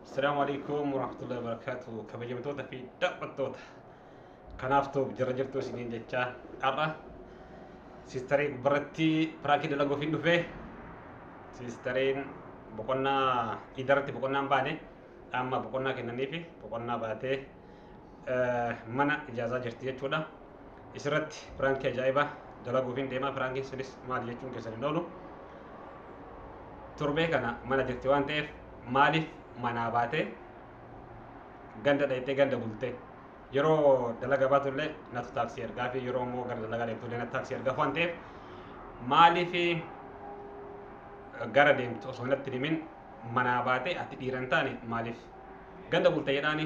Assalamu alaikum warahmatullahi wabarakatuh. Kabajamtoota fi daawwattoota kanaaf ta'u jara jirtu isiniin jechaa har'a siistaree gubbarratti piraakii dalaguuf hin dhufe siistareen boqonnaa idarratti boqonnaan baane amma boqonnaa kennaniifi boqonnaa baatee mana ijaazaa jirti jechuudha. Isirratti piraankii ajaa'ibaa dalaguufiin deemaa piraankiin sunis maali jechuun keessan hin oolu. Torbee kana mana jirti waan ta'eef maaliif manaa baatee ganda dhayxee ganda bultee yeroo dalaga baatullee natu taaksii ergaa fi yeroo immoo gara dalagaa deemtullee natu taaksii ergaa waan ta'eef maaliif gara deemtu osoo natti himin manaa baatee ati dhiiran taane maaliif ganda bulta jedhaani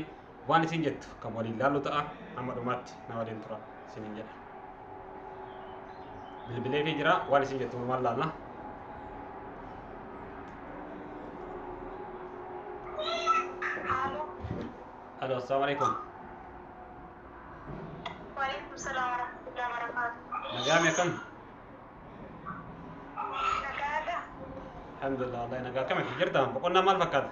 waan isin jettu kan waliin laallu ta'a amma dhumaatti na waliin tura isinin jedha bilbilee fi jira waan isin jettu walumaan laalla Halo. halo assalaamu alaikum Waalaikumsalam warahmatullahi wabarakatuh. nagaami akkam Nagaadha. alhamdulillah wallahi nagaa akkam itti jirta boqonnaa maal fakkaata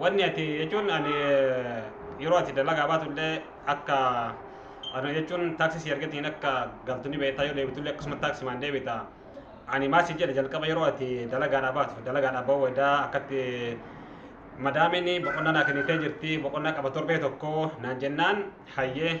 Wanni ati jechuun ani eh, yeroo ati dalagaa baatu illee akka ani jechuun taaksii si argatiin akka galtu ni beektaa yoo deebitu illee akkasuma taaksimaan deebita. Ani maal si jedhe jalqaba yeroo ati dalagaadhaa baatu dalagaadhaa ba'uu wadaa akkatti madaamiin boqonnaa naa kennitee jirti boqonnaa qaba torbee tokko naan jennaan hayyee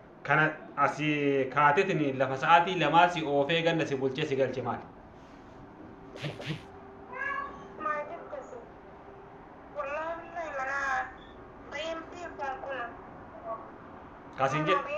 Kana asi kaatetin lafa sa'aatii lamaa si oofee ganna si bulchee si galche maali? Kasin jedhe.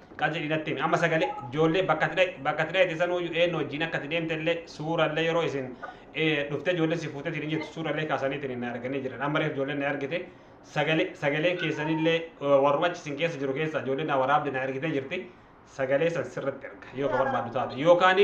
Qal jedhii natti himi amma sagalee ijoollee bakka ati dhaye bakka ati dhayete sanuuyyu eennu wajjiin akka ati deemtellee suurallee yeroo isin eh, dhuftee ijoollee si fuutetiin hin jirtu suurallee kaasaniitiin na arganii jiran amma reef ijoolleen na argite sagalee sagaleen keessanillee eh, warruma achi isin keessa jiru keessa ijoolleen na waraabde na argitee jirti sagalee san sirratti erga yoo ka barbaaddu taate yookaan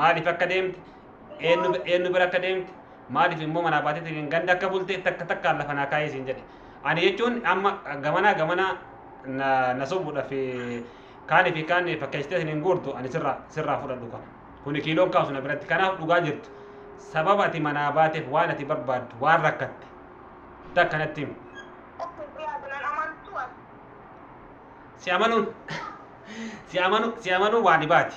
maaliif akka deemte eenyu eenyu bira akka deemte maaliif immoo manaa baateetiin ganda akka bulte takka takkaan lafa naa kaa'ee siin jedhe ani jechuun amma gamanaa gamanaa na na sobuudhaaf kaanii fi kaan fakkeessitee siin hin guurtu ani sirraa sirraa fudhadhu kana kuni kiiloon kaasu na biratti kanaaf dhugaa jirtu sababa ati manaa baateef waan ati barbaaddu waan rakkatte takka natti himi si amanuun si amanu si amanuu waa dhibaati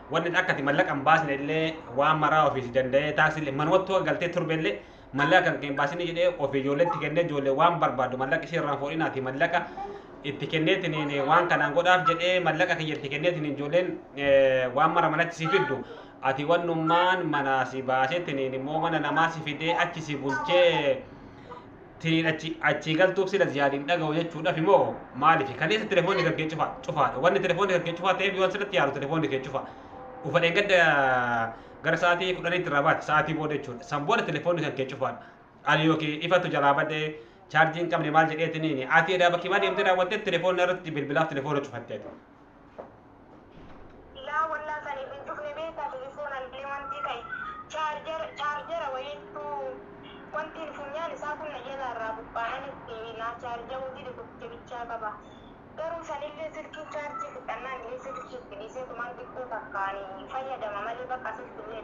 wanni akka ati mallaqa hin baasne illee waan maraa ofii si danda'ee taaksii illee manumattuu akka galtee turbe illee mallaqa kan kee hin baasine jedhee ofii ijoolleetti kennee ijoollee waan barbaadu mallaqa ishee irraan fuudhinaati mallaqa itti kenneetiniin waan kanaan godhaaf jedhee mallaqa kiyya itti kenneetiniin ijoolleen eh, waan mara manatti si fiddu ati wannummaan manaa si baaseetiniin immoo mana namaa si fidee achi si bulchee tiniin achi achii galtuuf sila ziyaad hin dhaga'u jechuudhafi moo maalifi kaleessa telefoonni kan kee cufaa cufaadha wanni telefoonni kan kee cufaa ta'eef yoon sirratti yaalu telefoonni kee cufaa ufa dheengadda gara sa'aatii kudhaniitti irraa baate sa'aatii booda jechuudha san booda telefoonni kan kee cufaadha ani yookiin ifatu jalaa badee chaarjii hin qabne maal jedheetiniini ati edaa bakki maa deemtee daawwattee telefoonni irratti bilbilaaf telefoona cufatteeti Laa wallah saniif hin cufne beektaa telefoona illee wantii ka'e chaarjara chaarjara wayiittuu wantiin funyaan isaa kun na jalaa irraa buqqaanan itti naa chaarja'uu dide tokkicha bichaa qaba garuu sanillee silkiin chaarjii fixannaan illee silkii itti dhiisee tumaan xiqqoo takkaani fayyadama malee baqa silkillee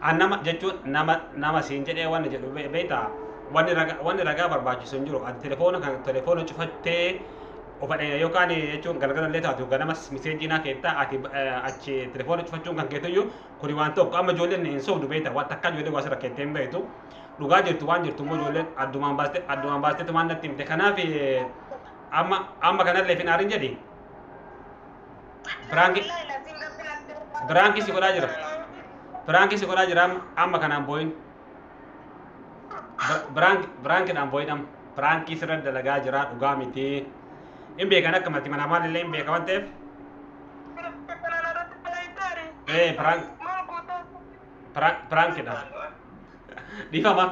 An nama jechuun nama nama siin jedhee wanni jedhu be- beektaa wanni raga- wanni ragaa barbaachisu hin jiru. Ati telefoona kan telefoona cufattee ofadhe yookaan jechuun galgala illee taatu ganamas miseejii naa keettaa ati eh, achi telefoona cufachuun kan keetuyyuu kuni waan tokko amma ijoolleen hin sobdu beektaa waan takka ijoollee waa sirra keettee hin beektu. Dhugaa jirtu waan jirtu immoo ijoolleen addumaan baastee addumaan baastee tumaan natti himte kanaaf eh, amma amma kanallee finaarin jedhi. Piraanki piraanki si godhaa jira. Piraanki si godhaa jira amma amma kanaan boo'in. Piraanki piraankiidhaan boo'in amma. Piraanki sirra dalagaa jira dhugaa miti. Hin beekan akka mati manaa maalillee hin beeka waan ta'eef. Ee piraanki piraankiidhaan. Dhiifama.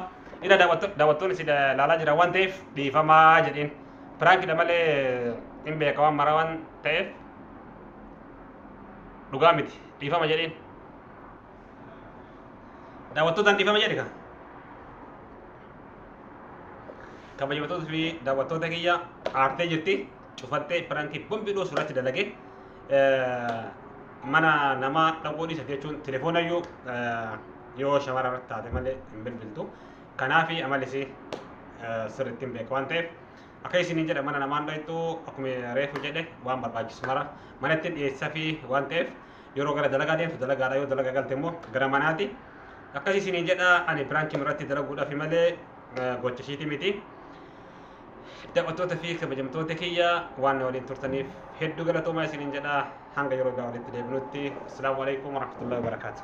Ina daawwatto- daawwattoonni si da- laalaa jiran waan ta'eef dhiifamaa jedhiin. Piraankidha malee hin beeka waan mara waan ta'eef dhugaa miti. Dhiifama jedhiin. Daawwattootaan dhiifama jedhi kaa. kabajamtoota fi daawwattoota kiyya aartee jirti cufattee piraankii bombi dhoosu irratti dalage mana namaa dhaquu dhiisa jechuun telefoona iyyuu yoo shawara irratti taate malee hin bilbiltu kanaaf amalisi sirriitti hin beeku waan ta'eef akka isiniin jedha mana namaan dhayxu akkuma reefu jedhe waan barbaachisu mara manatti dhiyeessa fi waan ta'eef yeroo gara dalagaa deemtu dalagaadha yoo dalagaa galte immoo gara manaati akkasii isiniin jedha ani biraankii irratti dalaguudhaaf malee gocha ishiiti miti. Daawwattoota fi kabajamtoota kiyya waan na waliin turtaniif hedduu galatoomaa isiniin jedha hanga yeroo biraa walitti deebinutti. Asalaamu alaikum warahmatullahi wabarakaatuh.